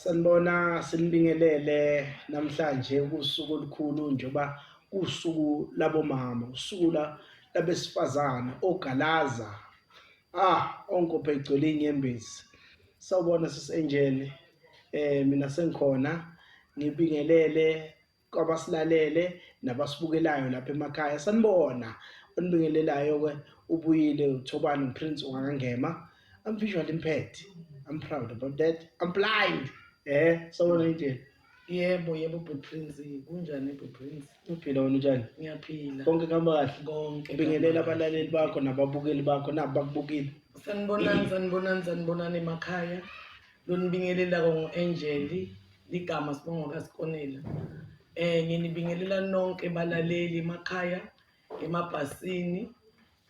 Sanibona sinibingelele namhlanje kusuku olukhulu njengoba kusuku labomama usuku la labesifazane ogalaza ah onkophe igcwele inyembezi sawubona sisengine eh mina sengikhona ngibingelele kwabasilalele nabasibukelayo lapha emakhaya sanibona onibingelelayo ke ubuyile uthobani prince ungangema i'm visually impaired i'm proud about that i'm blind eh sawona indlela yebo yebo butprince kunjani butprince uphila wena unjani ngiyaphila konke kuhamba kahle konke ubingelela abalaleli bakho nababukeli bakho nabo bakubukile sanibonani sanibonani sanibonani emakhaya lonibingelelako ngu-angeli ligama sibongo kasikonela um nginibingelela nonke balaleli emakhaya emabhasini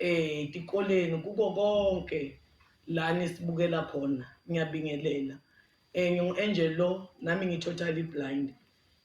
um tikoleni kuko konke la nisibukela khona ngiyabingelela um ngingu-angel lo nami ngi-totally blind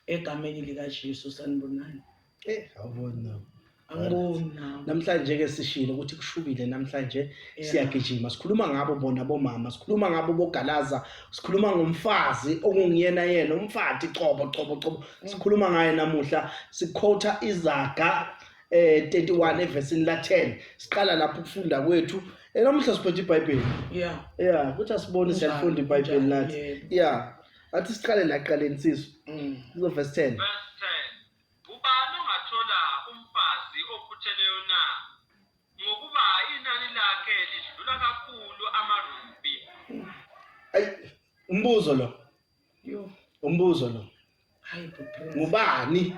egameni likaJesu sanibonani Eh, awuboni nawe. angiboni nawe Namhlanje ke sishilo ukuthi kushubile namhlanje Yeah. siyagijima. Sikhuluma ngabo bona bomama, sikhuluma ngabo bogalaza, sikhuluma ngomfazi okungiyena yena umfati cobo cobo cobo. Sikhuluma ngaye namuhla, sikhotha izaga eh 31 evesini la 10. Siqala lapho ukufunda kwethu. Eh namuhla siphethe iBhayibheli. yeah Yeah, kuthi asibone Kunjalo, siyalifunda iBhayibheli kunjalo, nathi. yebo. Yeah. Athi siqale la qale nsizwa. Mm. Kuzo verse 10. Verse 10. Ubani ongathola umfazi okhutheleyo na? Ngokuba inani lakhe lidlula kakhulu amarubi. Ay umbuzo lo. Yo. Umbuzo lo. Hayi bhuti. Ngubani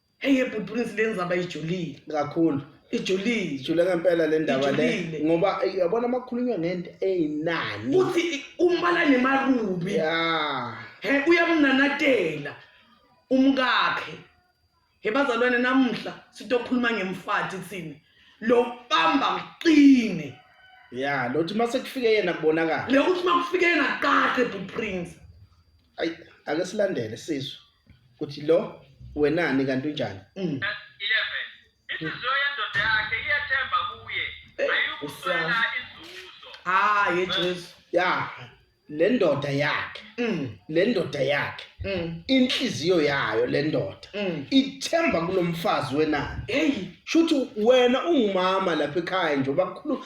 Hey yebhuti Prince lenzaba ijulile. Kakhulu. Ijulile. Ijule ngempela le ndaba le. Ijulile. Ngoba eh, yabona makukhulunywa ngento eyinani. Uthi umbala nemarubi. Yeah. He uyamnanatela umkakhe. He bazalwane namuhla sitokhuluma ngemfati thina. Lo bamba mqine. Yeah, lothi mase kufike yena kubonakala. Le uthi makufike yena qaqe bhuti Prince. ayi ake silandele sizwe ukuthi lo wenani kanti unjani mm. hayi jesu ya le ndoda yakhe mm. le ndoda yakhe mm. inhliziyo yayo le ndoda mm. ithemba kulomfazi wenani hey shuthi wena ungumama lapha ekhaya nje bakhulu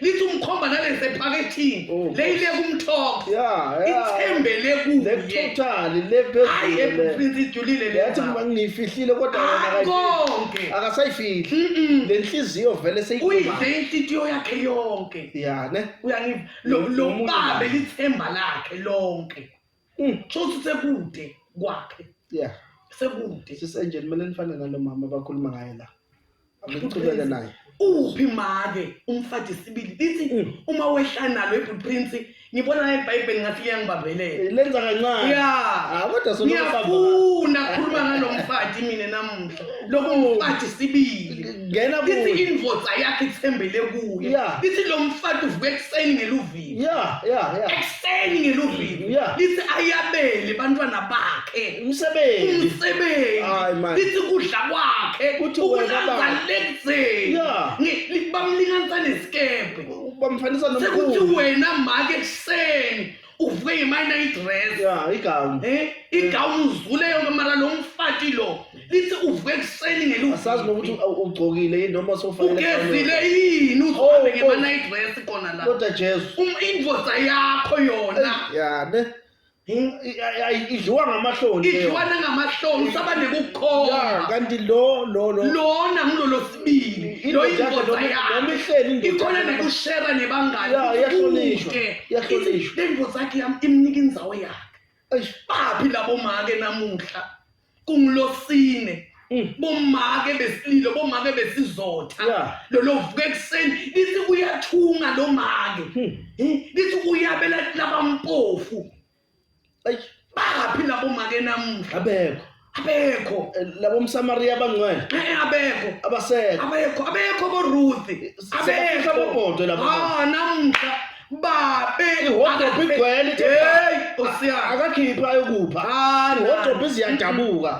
lithi umkhomba nalese phakethini Oh, leyile kumthombo ya ya ithembele kuye lethotali hayi lephezulu ebufrinsi ijulile le yathi mama. ngiyifihlile kodwa yona Hayi akayi- konke akasayifihli Mm-mm. le nhliziyo vele uyidle seyikhumba inhlitiyo yakhe yonke ya ne uyangiva Lo- Lo- lo lomuntu babe naye. lithemba lakhe lonke Mm, so ukuthi sekude kwakhe yeah sekude sisenje kumele nifane nalo mama abakhuluma ngaye la akuchubeke naye uphi make umfati isibili lithi Mm. uma wehla nalo ibhut prince ngibona naye ibhayibheli ngathi liyangibambelela Eh, lenza kancane ya Ah, kodwa solo ngiyafuna khuluma ngalo mfati mina namuhla loku mfati isibili ngena lithi kuye indvodza yakhe ithembele kuye Yeah. lithi lo mfati uvuka ekuseni ngeluvi luvile yeah yeah yeah ekuseni ngeluvile yeah lithi ayabele bantwana bakhe umsebenzi umsebenzi hayi man lithi kudla kwakhe kuthi wena baba lenzeni yeah bamlinganisa nesikebhe bamfanisa nomkhulu sekuthi wena make ekuseni uvuke ngemayina idress yeah igown eh igown uzule yonke mara lo mfati lo lithi uvuke ekuseni ngeluzi asazi nokuthi u- ugcokile yini noma sofanele ugezile yini uzohambe Oh, oh. ngema-night dress kona la kodwa jesu Um- indoda yakho yona yane Hi- i- i- ayi- idliwa ngamahloni leyo. idliwa nangamahloni usaba Ya, nekukhomba kanti lo lo lo lona ngulolo sibili Indoda lo yakhe indoda noma- yakhe noma ihleli indoda ikhona yakhe. nekushera nebangani Ya, iyahlonishwa, Kude. iyahlonishwa. Ithi, le ndoda yakhe yam imnika indzawo yakhe Eish, baphi labomake namuhla kungulosine Mm. bomake besililo bomake besizotha Yeah. lolo vuka ekuseni lithi uyathunga lo make Hmm. Eh, lithi uyabela labampofu ayi baphi labo make namuhla abekho abekho Eh, labo msamariya abangcwele Eh, abekho abasekho abekho abekho boruthi Sebafika bobodwe laba bantu. Ah, namuhla babe ihodobhi igcwele ithi hey osiyana akakhiphi ayokupha ah ihodobhi ziyadabuka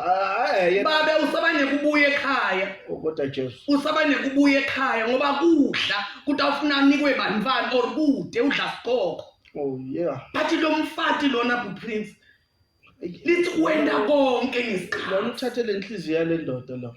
eh babe usabanye kubuye ekhaya oh, kodwa Jesu usabanye kubuye ekhaya ngoba kudla kuthi awufuna nikwe banifani or kude udla sikoko oh yeah bathi lo mfati lona bu prince lithi wenda konke ngesikhathi lona uthathe lenhliziyo yale ndoda lo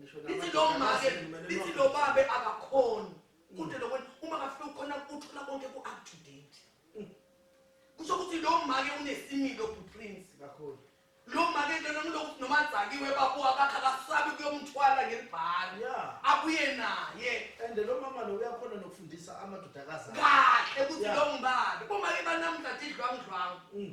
Ngisho lithi namanje lo make akazi mina lithi noma- lo babe akakhoni kude lokwena uma kafika ukhona uthola konke ku-up to date kusho ukuthi lo make unesimilo buprince kakhulu lo make lona ngilokuthi noma adzakiwe babu akakhe akasabi kuyomthwala ngelibhari ya abuye naye and lo mama lo uyakhona nokufundisa amadodakazi akhe. kahle ukuthi Yeah. lo ngibani bomake banamhlanje idlwangudlwangu Mm.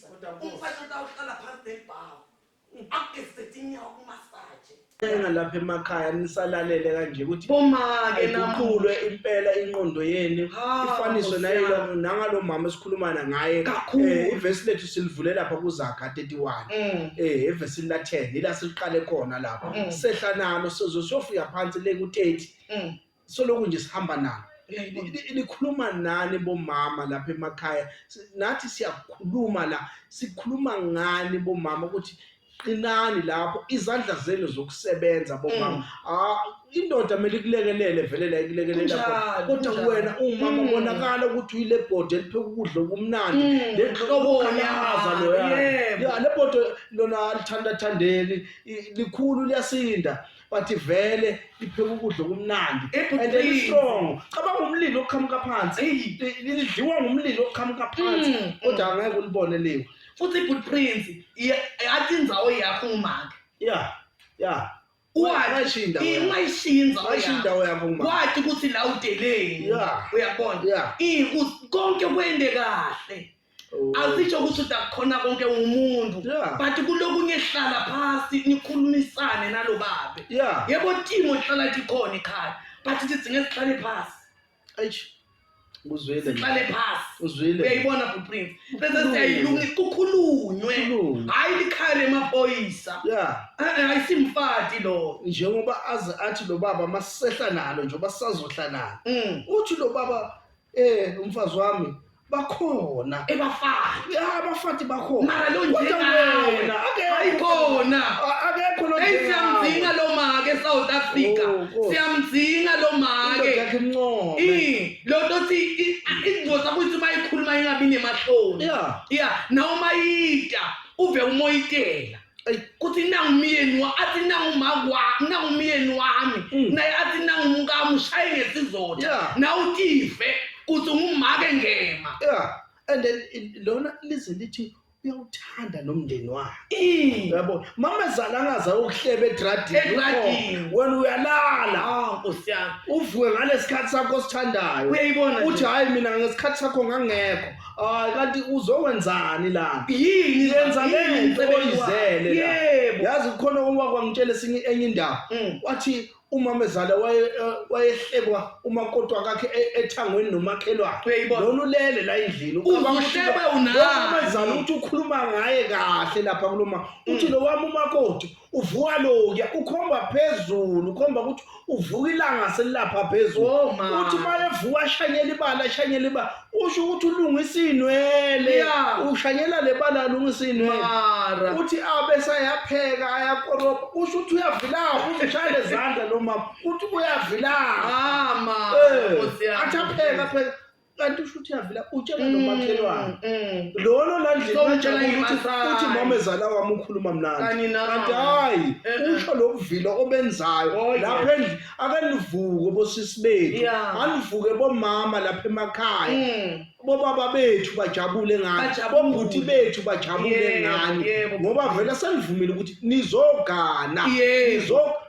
Kodwa boss. umfana utawuhlala phansi nelibhawu akugezise tinyawo kumasaje Enga lapha emakhaya nisalalele kanje ukuthi Bomake ayiqulwe impela inqondo yenu Ha, ifaniswe Nkosi nayilo yami. nangalo mama esikhulumana ngaye Kakhulu. Eh, ivesi lethu silivule lapha kuzaga 31 Mm. eh evesini la 10 ila siqale khona lapha Mm. sehla nalo sizo siyofika phansi le ku 30 Mm. soloko nje sihamba nalo nikhuluma nani bomama lapha emakhaya nathi siyakhuluma la sikhuluma ngani bomama ukuthi qinani lapho izandla zenu zokusebenza bomama mm. ah, indoda kumele ikulekelele vele la ikulekelela kodwa wena umama mm. ubonakala ukuthi uyile bhodi elipheka ukudla okumnandi mm. lenhlobolaza loya le bhodi lona lithandathandeki likhulu liyasinda but vele lipheka ukudla okumnandi and it's strong cabanga umlilo oqhamuka phansi lidliwa ngumlilo oqhamuka phansi mm, mm. kodwa angeke ulibone leyo futhi good prince yathi inzawo yakho umake yeah yeah wayishinda wayishinza wayishinda yakho umake wathi ukuthi la udeleni uyabona konke kwende kahle Asisho ukuthi udakukhona konke umuntu Yeah. but kulokunye hlala phasi nikhulumisane nalobabe. Yeah. Yebo team ohlala likhona ekhaya but sidinga sihlale phasi. Eish. Uzwile. Sihlale phasi. Uzwile. Uyayibona bu Prince. Bese siyayilungisa kukhulunywe. Kukhulunywe. Hayi likhaya lemaphoyisa. Yeah. Eh eh, ayisimfati lo. Njengoba aze athi lo baba masehla nalo njengoba sazohla nalo. Mm. Uthi lo baba Eh umfazi wami bakhona ebafati ya abafati bakhona mara lo Kodwa njengalo wena, akekho. ayikhona A- akekho lo eyi siyamdinga lo make esouth africa Oh, Nkosi. siyamdinga lo make yakhe imncome I, lo nto othi i- a- ingozi akuthi uma ikhuluma ingabi nemahloni ya ya nawe uma yita uve umoyitela kuthi nangu umyeni athi nangu umakwa nangu umyeni wami mm. naye athi nangu umkami ushaye ngesizotha nawe utive kuthi ngumake ngema and then lona lize lithi uyawuthanda nomndeni wakhe yabo mama zala angaza ukuhleba edradini wena uyalala ah, nkosi yami uvuke ngalesikhathi sakho osithandayo uyayibona uthi hayi mina ngesikhathi sakho ngangekho Hayi kanti uzokwenzani la? Yini lenza lento oyizele la? Yebo. Yazi khona uma kwangitshela esinye enye indaba. Mm. Wathi umamezala waye eh, wayehlekwa umakotwa kakhe e- ethangweni nomakhelwane. Uyayibona? Lona ulele la endlini. Ucabanga ukuthi Uzohleba lo- unani? Umamezala uthi ukhuluma ngaye kahle lapha kuloma. Uthi lo wami umakoti uvuka lokuya ukhomba phezulu ukhomba ukuthi uvuka ilanga selilapha phezulu Oh, ma. uthi uma evuka ashanyela ibala ashanyela ibala usho ukuthi ulungisa iy'nwele Yeah. ushanyela le bala alungisa iy'nwele mara uthi abe sayapheka ayakorobha usho ukuthi uyavilapha uzishaya lezandla lo mama uthi uyavilapha ah ma Eh, Nkosi yami. athi apheka apheka kanti usho ukuthi yavila utshela mm, nomakhelwane mm. lolo landlelajabula uthi mama ezala wami ukhuluma mnandi kanti hayi eh, eh. usho lokuvila obenzayo oh, lapha endlini akanivuke bosisi bethu anivuke bomama lapha emakhaya mm. bobaba bethu bajabule ngani bobhuti bethu bajabule ngani ngoba vele senivumile ukuthi nizogana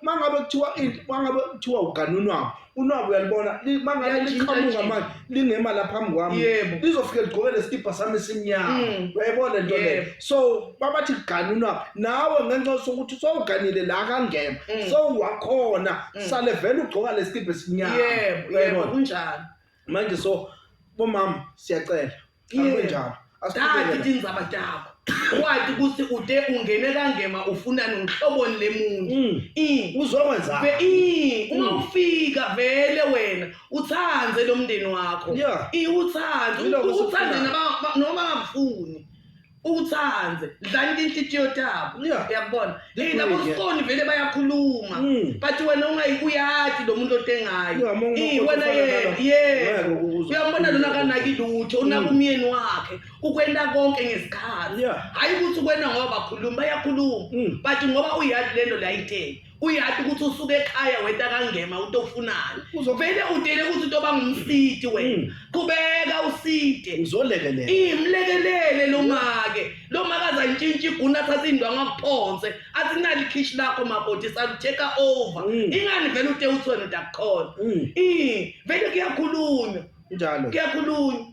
mangabe kuthiwa mangabe kuthiwa uganunwabo unwabu uyalibona li- uma ngabe Liyajika liqhamuka nje. manje lingema la phambi kwami Yebo. lizofike ligqoke lesikibha sami esimnyama Mm. uyayibona lento leyo Yebo. so babathi gani unwabu nawe ngenxa yokuthi ukuthi sowuganile la kangema Mm. sowuwakhona Mm. sale vele ugqoka lesikibha esinyama yebo yebo Uyayibona? kunjalo manje so bomama siyacela Akunjalo. Asiqhubeke. Dati tindzaba takho. Wathi ukuthi ute ungene kangema ufunani ngihloboni lemuntu. Mm. I. Uzokwenzani? Ve i uma Mm. ufika vele wena uthande lomndeni wakho. Yeah. I uthande Yilokho uthande esikufunayo. naba noma ngafuni. uthande dlani inhlitiyo tabo uyabona hey labo sifoni vele bayakhuluma hmm. but wena ungayikuyati lo muntu otengayo wena yena yena uyambona lona kanaki lutho hmm. unakumyeni wakhe ukwenda konke ngesikhathi hayi ukuthi ukwenda ngoba bakhuluma bayakhuluma hmm. but ngoba uyati lento layithe uyati ukuthi usuke ekhaya weta kangema uto ufunani uzovele utele ukuthi uto bangumsidi wena hmm. qhubeka uside uzolekelela imlekelele lo make lo make azantshintsha iguna athatha indwangu akuphonse athi nali khishi lakho makoti sakutheka over hmm. ingani vele ute uthi wena udakuqhona hmm. vele kuyakhulunywa njalo kuyakhulunywa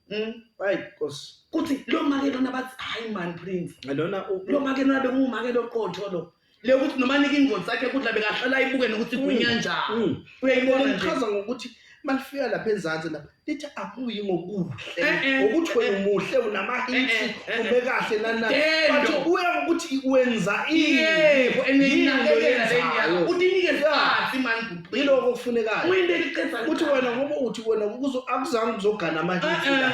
Mm, hayi nkosi kuthi lo make lona bathi hayi mani prince lona u- lo make lona bengumake loqotho lo le ukuthi noma nike ingozi sakhe kudla bekahlala ayibuke nokuthi igwinya njani Mm. uyayibona nje lichaza ngokuthi malifika lapha ezansi lapha lithi akuyi ngokuhle Eh, eh, ngokuthi wena eh. umuhle Eh, unamahitsi eh, eh, ume kahle nanani Dendo. bathi kuya ngokuthi wenza ini yebo Yini enenakekela yenzayo. leniya utinike Yeah. sikhathi mani yiloko okufunekayo uyinto eliqedza ukuthi wena ngoba uthi wena akuzange ukuzogana amahiti eh,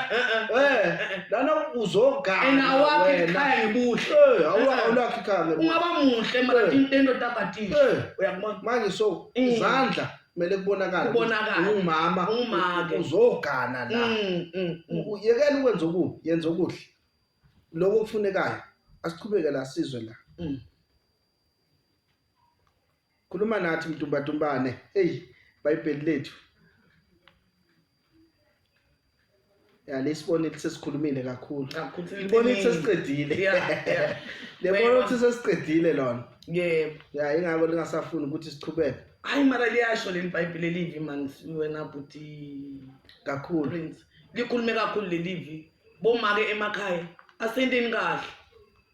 eh, eh, lana uzogana awakhe ikhaya ngebuhle awulakhe ikhaya ngebuhle ungaba muhle mara into endoda abhadile uyakubona manje so mm. izandla kumele kubonakale kubonakale umama umake uzogana la mm, mm, yekela ukwenza okubi yenza okuhle lokho okufunekayo asiqhubeke la sizwe la Khuluma nathi mtumbantumbane. Eyi, iBhayibheli lethu. Ya lesibona ukuthi sesikhulumile kakhulu. Libona ukuthi sesiqedile. Lebona ukuthi sesiqedile lona. Yebo. Ya ingakho lingasafuni ukuthi siqhubeke. Hayi mara liyasho leli Bhayibheli elivi man wena bhuti kakhulu. Prince. Likhulume kakhulu lelivi. Bomake emakhaya asenteni kahle.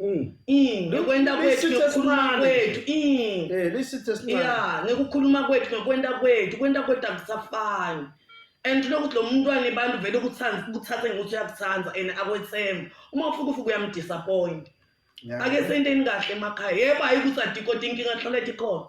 Mm. Mm, ngekwenta kwethu ngekukhuluma kwethu mm. eh, ya ngekukhuluma kwethu ngekwenta kwethu kwenta kwethu akusafani and lokuthi lo mntwana abantu vele ukuthathe ngokuthi uyakuthanda and akwethemba uma ufuka ufuka uyamdisappoint ake senteni kahle emakhaya yebo hayi ukuthi adikoti inkinga hlala ethi khona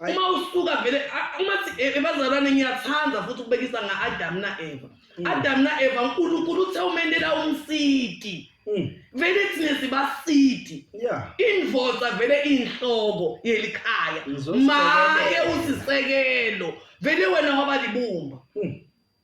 uma usuka vele uma e, ebazalwane ngiyathanda futhi ukubekisa nga-adamu na-eva mm. adamu na-eva unkulunkulu uthe umenela umsidi mm. vele thina sibasidi invoza vele inhloko yelikhaya make usisekelo vele wena waba libumba mm.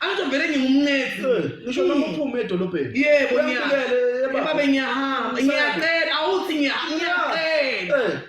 Angisho vele ngingumncezi. Ngisho noma uphuma edolobheni. Yebo ngiyakele. Babe ngiyahamba. Ngiyacela awuthi ngiyacela. Eh.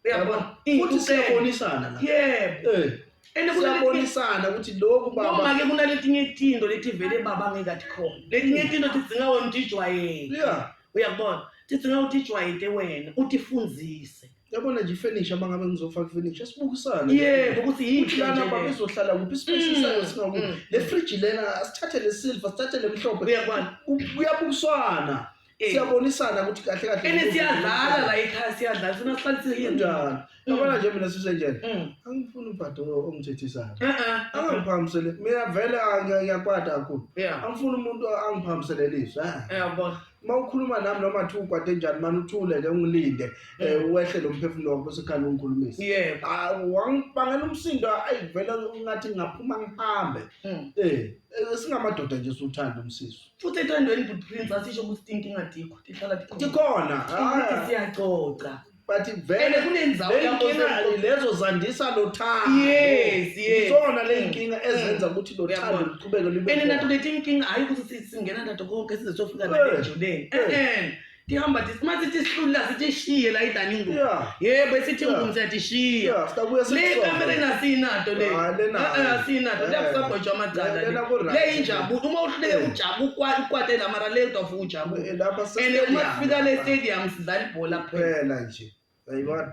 Uyabona? Futhi siyabonisana la. Yebo. Eh. And kuyabonisana ukuthi lokhu baba noma ke kunaletinye itinto lethi vele baba ngeke athi khona. Letinye itinto tidzinga wena utijwayele. Yeah. Uyabona? Tidzinga utijwayele wena, utifundise. yabona nje ifurniture uma ngabe ngizofaka ifurniture sibukisane Yebo, ukuthi yini ukuthi lana nje le. babezohlala kuphi ispace Mm, sayo singakuphi mm. le fridge lena asithathe le silver sithathe le mhlophe Uyabona? Ku- kuyabukiswana Eh. siyabonisana ukuthi kahle kahle Ene siyadlala la ekhaya siyadlala sina sihlalisile yini? kanjani yabona nje mina sisenjani Mm. angifuni ubhadi o- ongithethisayo Eh eh. angiphambisele mina vele angiyakwada kakhulu Yeah. angifuni umuntu angiphambisele lizwi ah. Uyabona? uma ukhuluma nami noma kuthiwa ukwade njani mani uthule ke ungilinde um wehle lo mphefumulo wakho bese khani ungikhulumisa yebo Ah, wangibangela umsindo ayi vele ngathi ngingaphuma ngihambe Mm. Eh, eh, singamadoda nje siwuthanda umsiso futhi ethandweni bhuti prince asisho ukuthi tinkinga dikho tihlala tikhona tikhona Ukuthi Ah. siyaxoxa but And vele kunenzawo le lapho nkinga osekhona. lezo zandisa lo thando Yes, yes. izona le Mm. nkinga ezenza ukuthi lo Uyabona. thando luqhubeke lube ene khona. nato leti nkinga hayi ukuthi si- singena nato konke size sofika Eh. nayo ejuleni Eh. e-e tihamba ti- uma sithi sihlulula sitishiye la idani ingubo Yeah. yebo esithi Yeah. ingubo siyatishiya Yeah, sitabuya le sikusonge. kamera engasiyinato le Ah, lena Eh, eh, hayi. asiyinato Eh, lekusagojwa amacala le. lena ku-right. le injabulo uma uhluleke Eh. ujabu ukwa- ukwatela mara le udafuka ujabu Eh, lapha and uma sifika le sesitedium. stadium sidlala ibhola kuphela nje yayibona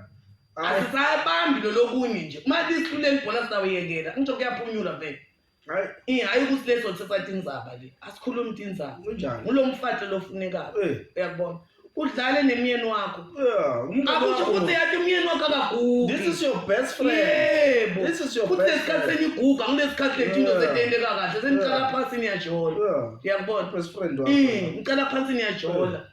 asisayabambi lo lokunye nje uma lisiluleli ibhola sawuyekela ngisho kuyaphunyula vele hayi hayi ukuthi leso sesathe inzaba le asikhulumi ukuthi inzaba kunjani ngulo mfathi lofunekayo eh. uyakubona udlale nemyeni wakho akusho ukuthi yathi umyeni wakho akagugi this is your best friend yebo this is your best friend kulesikhathi seniguga kulesikhathi lethi into setendeka kahle senicala phansi niyajola uyakubona best friend wakho ngicela phansi niyajola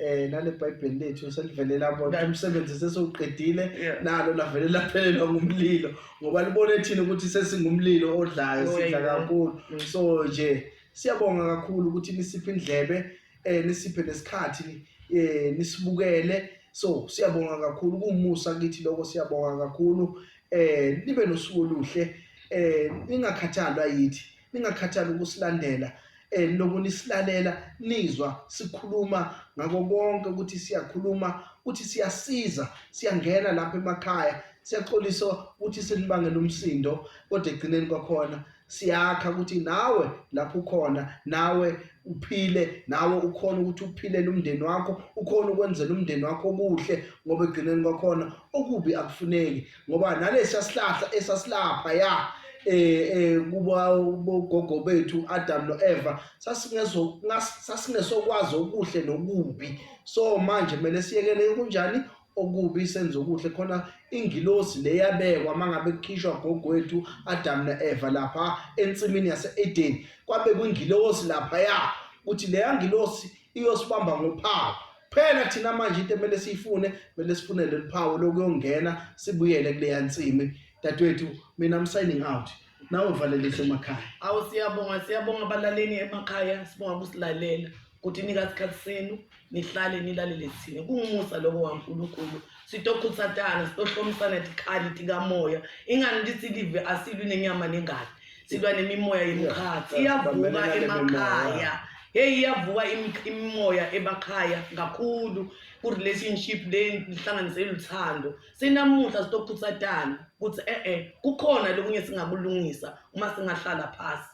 eh nale bible lethu selivele labona umsebenzi sesiwuqedile nalo lavele laphelelwa ngumlilo ngoba libone thina ukuthi sesingumlilo odlayo oh, sidla kakhulu mm. so nje siyabonga kakhulu ukuthi nisiphe indlebe eh nisiphe nesikhathi eh nisibukele so siyabonga kakhulu kumusa kithi lokho siyabonga kakhulu eh nibe nosuku oluhle eh ningakhathalwa yithi ningakhathali ukusilandela um niloku nisilalela nizwa sikhuluma ngako konke ukuthi siyakhuluma ukuthi siyasiza siyangena lapha emakhaya siyaxolisa ukuthi sinibangela umsindo kodwa egcineni kwakhona siyakha ukuthi nawe lapho ukhona nawe uphile nawe ukhona ukuthi uphilele umndeni wakho ukhona ukwenzela umndeni wakho okuhle ngoba egcineni kwakhona okubi akufuneki ngoba nalesiya sihlahla esasilapha ya eh, eh kuba bogogo bethu Adam noEva sasingezo sasingesokwazi okuhle nokubi so manje kumele siyekele kunjani okubi senze okuhle khona ingilosi leyabekwa mangabe kukhishwa gogwethu Adam naEva lapha ensimini yaseEden kwabe kwingilosi lapha ya ukuthi leya ngilosi iyosibamba ngophawu phela thina manje into emele siyifune kumele sifune leli phawu lokuyongena sibuyele kuleya nsimi dadewethu mina I'm signing out nawe valelise emakhaya awu siyabonga siyabonga abalaleli emakhaya sibonga kusilalela ukuthi nika sikhathi senu nihlale nilalele thina kungumusa lokho waNkulunkulu sitokhutsatana sitohlomisana tikhali tikamoya ingani nditsi live asilwi nenyama nengati silwa nemimoya yemkhatsi iyavuka emakhaya heyi iyavuka imimoya emakhaya kakhulu ku-relationship le lihlanganise luthando sinamuhla sitokhutsatana ukuthi e-e kukhona lokunye singakulungisa uma singahlala phasi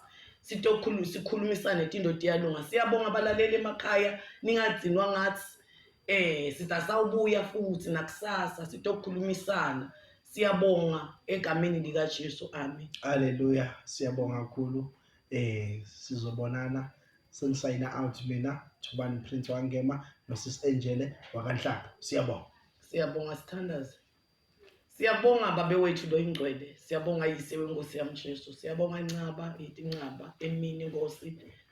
sikhulumisane tinto tiyalunga siyabonga abalaleli emakhaya ningadzinwa ngathi Eh sitha sawubuya futhi nakusasa sitokhulumisana siyabonga egameni lika Jesu amen haleluya siyabonga kakhulu eh sizobonana sengisayina out mina Thubani Prince wangema nosis Angele wakanhlaba siyabonga siyabonga sithandaze Siyabonga babe wethu lo ingcwele. Siyabonga yise wenkosi yami Jesu. Siyabonga Ncaba, yithi Ncaba, emini Nkosi.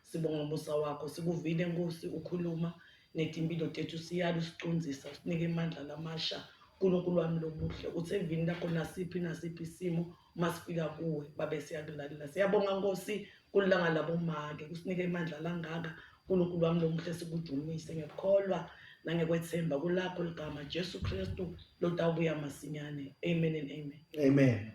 Sibonga umusa wakho. Sikuvile Nkosi ukhuluma netimpilo tethu siyala usicunzisa usinike amandla lamasha. Nkulunkulu wami lobuhle uthi evini lakho nasiphi nasiphi isimo uma sifika kuwe babe siyakulalela siyabonga nkosi kulilanga labomake kusinike imandla langaka unkulunkulu wami lomuhle sikudumise ngekholwa nangekwethemba kulakho ligama jesu kristu lotawubuya masinyane amen and amen amen